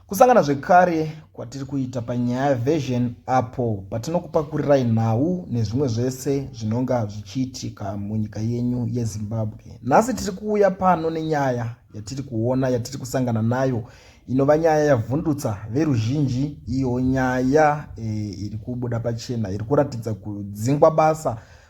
Kusangana zvekare kwatiri kuita panyaya version apo patinokupakurirai nhau nezvimwe zvese zvinonga zvichiitika munyika yenyu yezimbabwe nhasi tiri kuuya pano nenyaya yatiri kuona yatiri kusangana nayo inova nyaya yavhundutsa veruzhinji iyo nyaya e, iri kubuda pachena iri kuratidza kudzingwa basa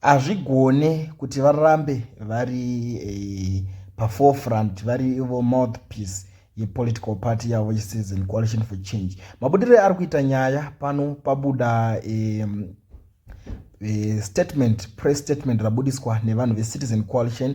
hazvigone kuti varambe vari eh, paforefront vari ivo mouthpiece yepolitical party yavo yecitizen coalition for change mabudiroi ari kuita nyaya pano pabuda eh, eh, statement press statement rabudiswa nevanhu vecitizen coalition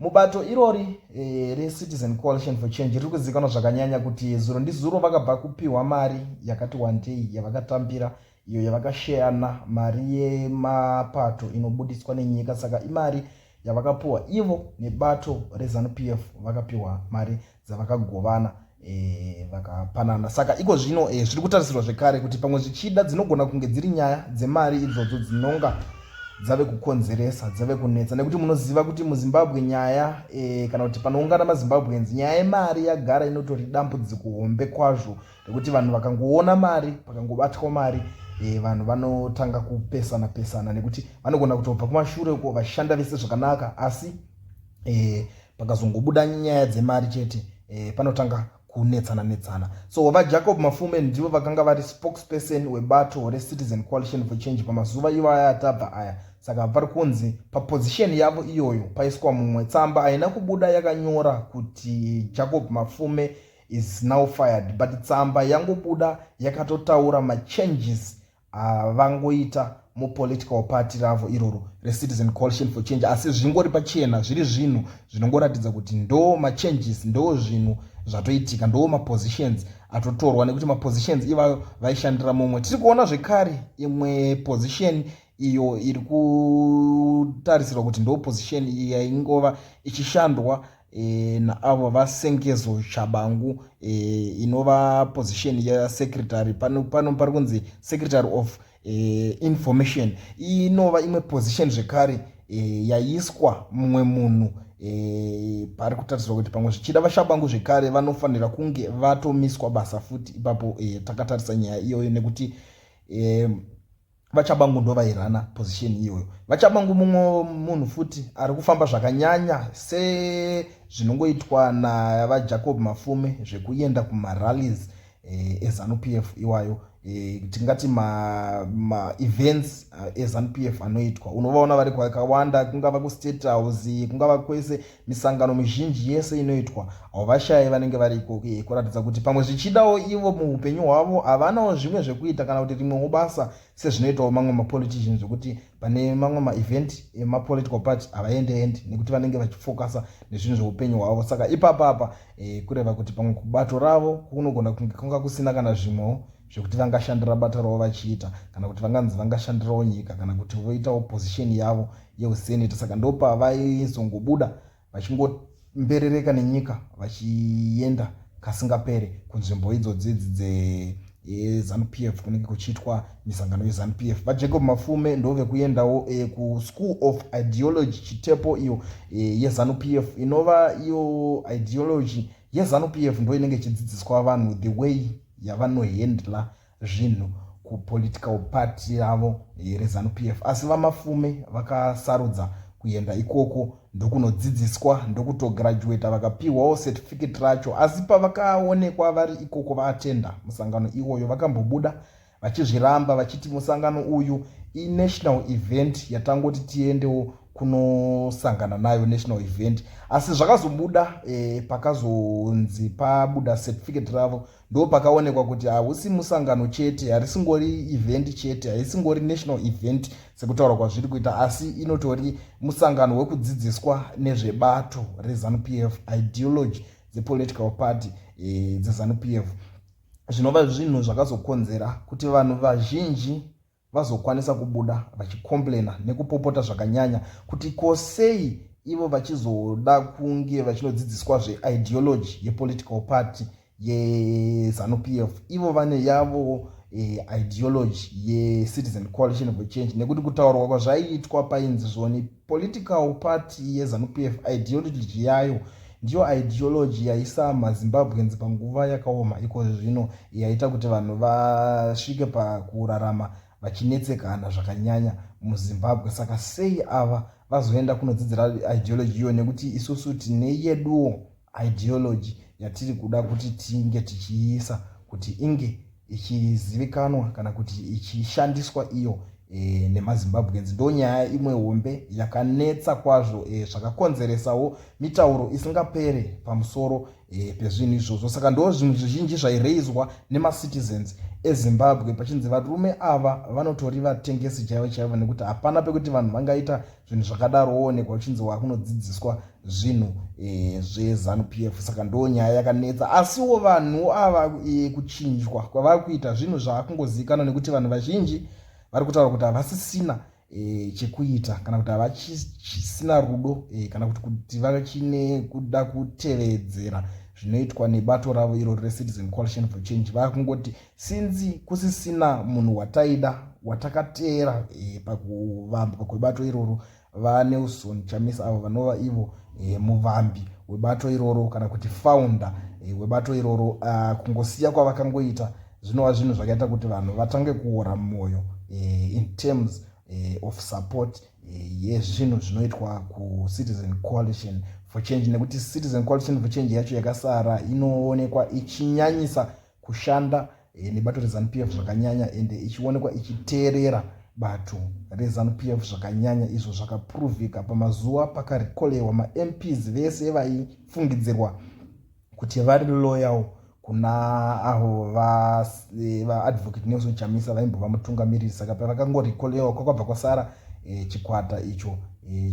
Mubato irori e, reCitizen Coalition for Change riri kuzivikanwa zvakanyanya kuti zuro ndizuro vakabva kupiwa mari yakati wandei yavakatambira iyo yavakasheyana mari yemapato inobuditswa nenyika saka imari yavakapiwa ivo nebato rezanup f vakapiwa mari dzavakagovana e, vakapanana saka iko zvino e, zviri kutarisirwa zvekare kuti pamwe zvichida dzinogona kunge dziri nyaya dzemari idzodzo dzinonga dzave kukonzeresa dzave kunetsa nekuti munoziva kuti muzimbabwe nyaya e, kana kuti panoungana mazimbabweans nyaya yemari yagara inotori dambudziko hombe kwazvo rekuti vanhu vakangoona mari pakangobatwa mari e, vanhu vanotanga kupesana pesana nekuti vanogona kutobva kumashure uko vashanda vese zvakanaka asi e, pakazongobuda nyaya dzemari chete eh, panotanga kunetsana netsana so vajacob mafume ndivo vakanga vari spokesperson webato recitizen coalition for change pamazuva ivaya atabva aya saka vari kunzi papozisheni yavo iyoyo paiswa mumwe tsamba haina kubuda yakanyora kuti jacob mafume is now fired but tsamba yangobuda yakatotaura machanges Haa vangoita mu political party ravo iroro re citizen coalition for change asi zvingori pachena zviri zvinhu zvinongoratidza kuti ndoo ma changes ndoo zvinhu zvatoitika ndoo ma positions atotorwa nekuti ma positions ivayo vaishandira mumwe tiri kuona zvekare imwe position iyo iri kutarisirwa kuti ndoo position iyi yaingova ichishandwa e, naavo vasengezo chabangu e, inova position yesecretary pano, pano pari kunzi secretary of e, information inova imwe position zvekare e, yaiswa mumwe munhu e, pari kutarisirwa kuti pamwe zvichida vashabangu zvekare vanofanira kunge vatomiswa basa futi ipapo e, takatarisa nyaya iyoyo nekuti e, vachabangu ndo vairana position iyoyo vachabangu mumwe munhu futi ari kufamba zvakanyanya sezvinongoitwa navajacob mafume zvekuenda kumarallies eh, ezanup f iwayo eh, tingati maevents ma eh, ezanup f anoitwa unovaona vari kwakawanda kungava kustate house kungava kwese Misangano mizhinji yese inoitwa, hauvashaye vanenge vari ikoko iye kuratidza kuti pamwe zvichidawo ivo muupenyu hwavo havanawo zvimwe zvekuita kana kuti rimwewo basa sezvinoitawo mamwe mapolitician zvekuti pane mamwe maevent emapolitical party havaendeendi nekuti vanenge vachifokasa nezvinhu zveupenyu hwavo saka ipapapa e, eh, kureva kuti pamwe kubato ravo kunogona kunge kunga kusina kana zvimwewo zvekuti vangashandira bata ravo vachiita kana kuti vanganzi vangashandirawo nyika kana kuti voitawo pozisheni yavo yeuseneta saka ndopavaizongobuda vachingomberereka nenyika vachienda kasingapere kunzvimbo idzodzi idzi dzezanupf e, kunenge kuchiitwa misangano yezanupf e. vajacob mafume ndovekuendawo e, eh, kuschool of ideology chitepo iyo eh, yezanupf e, inova iyo ideology eh, yezanu PF ndo inenge ichidzidziswa vanhu the way yavanohandla zvinhu kupolitical party ravo rezanu PF asi vamafume vakasarudza kuenda ikoko ndokunodzidziswa ndokutograduata vakapiwawo certificate racho asi pavakaonekwa vari ikoko vaatenda musangano iwoyo vakambobuda vachizviramba vachiti musangano uyu inational event yatangoti tiendewo kunosangana nayo national event asi zvakazobuda eh, pakazonzi pabuda certificate ravo ndo pakaonekwa kuti hausi musangano chete harisingori event chete haisingori national event sekutaura kwazviri kuita asi inotori musangano wekudzidziswa nezvebato rezanup f ideology dzepolitical party eh, dzezanup f zvinova zvinhu zvakazokonzera kuti vanhu vazhinji vazokwanisa kubuda vachikomplaina nekupopota zvakanyanya kuti ko sei ivo vachizoda kunge vachinodzidziswa zveideology yepolitical party yezanupf ivo vane yavo eh, ideology yecitizen coalition of change nekuti kutaurwa kwazvaiitwa painzi zvoni Political party yeZanu-PF ideology yayo ndiyo ideology yaisa maZimbabweans panguva yakaoma ikozvi zvino yaita kuti vanhu vasvike pakurarama vachinetsekana zvakanyanya muZimbabwe. Saka sei ava vazoenda kunodzidzira ideology iyo nekuti isusu tine yeduwo. ideology yatiri kuda kuti tinge tichiisa kuti inge ichizivikanwa kana kuti ichishandiswa iyo e, nemazimbabweans ndo nyaya imwe hombe yakanetsa kwazvo e, zvakakonzeresawo mitauro isingapere pamusoro e, pezvinhu izvozvo saka ndo zvinhu zvizhinji zvaireizwa nemacitizens ezimbabwe pachinzi varume ava vanotori vatengesi chaivo chaivo nekuti hapana pekuti vanhu vangaita zvinhu zvakadaro woonekwa uchinzi wakunodzidziswa zvinhu e, zvezanu p f saka ndo nyaya yakanetsa asiwo vanhu ava e, kuchinjwa kwavari kuita zvinhu zvaakungozivikanwa nekuti vanhu vazhinji vari kutaura kuti havasisina e, chekuita kana kuti havachisina rudo e, kana kuti kuti vachine kuda kutevedzera zvinoitwa nebato ravo iro recitizen coalition for change vakungoti Since kusisina munhu wataida watakateera eh, pakuvambwa kwebato iroro vaNelson Chamisa avo vanova ivo eh, muvambi webato iroro kana kuti founder eh, webato iroro uh, kungosiya kwavakangoita zvinova zvinhu zvakaita kuti vanhu vatange kuora mwoyo eh, in terms eh, of support eh, yezvinhu eh, zvinoitwa kucitizen coalition for change nekuti citizen coalition for change yacho yakasara inoonekwa ichinyanyisa kushanda eh, nebato reZanu PF zvakanyanya ende ichionekwa ichiteerera bato reZanu PF zvakanyanya izvo zvakapuruvhika pamazuva pakarikolewa maMPs vese vaifungidzirwa kuti vari loyal kuna avo eh, vaadvocate Nelson Chamisa vaimbova mutungamiriri saka pavakangorikolewa kwakabva kwasara eh, chikwata icho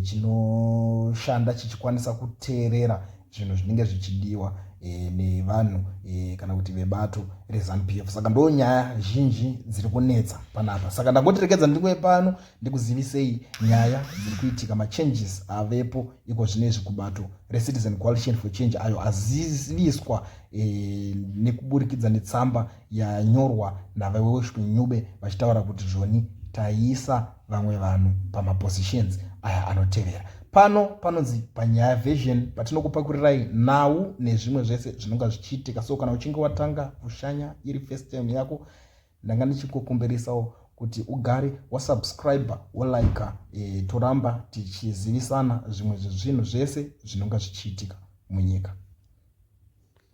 chinoshanda chichikwanisa kuteerera zvinhu zvinenge zvichidiwa e, nevanhu e, kana kuti vebato reZanu PF. Saka ndo nyaya zhinji dziri kunetsa panapa, saka ndangotirekedza ndiri pano ndikuzivisei nyaya dziri kuitika, machanges avepo iko zvino izvi kubato reCitizen Coalition for Change ayo aziviswa e, nekuburikidza netsamba yanyorwa naVaWelshman Ncube vachitaura kuti zvoni taisa vamwe vanhu pamapositions aya anotevera pano panonzi panyaya version patinokupakurirai nhau nezvimwe zvese zvinonga zvichiitika so kana uchinge watanga kushanya iri first time yako ndanga ndichikukumbirisawo kuti ugare wasubscribe wolike e, toramba tichizivisana zvimwe zvezvinhu zvese zvinonga zvichiitika munyika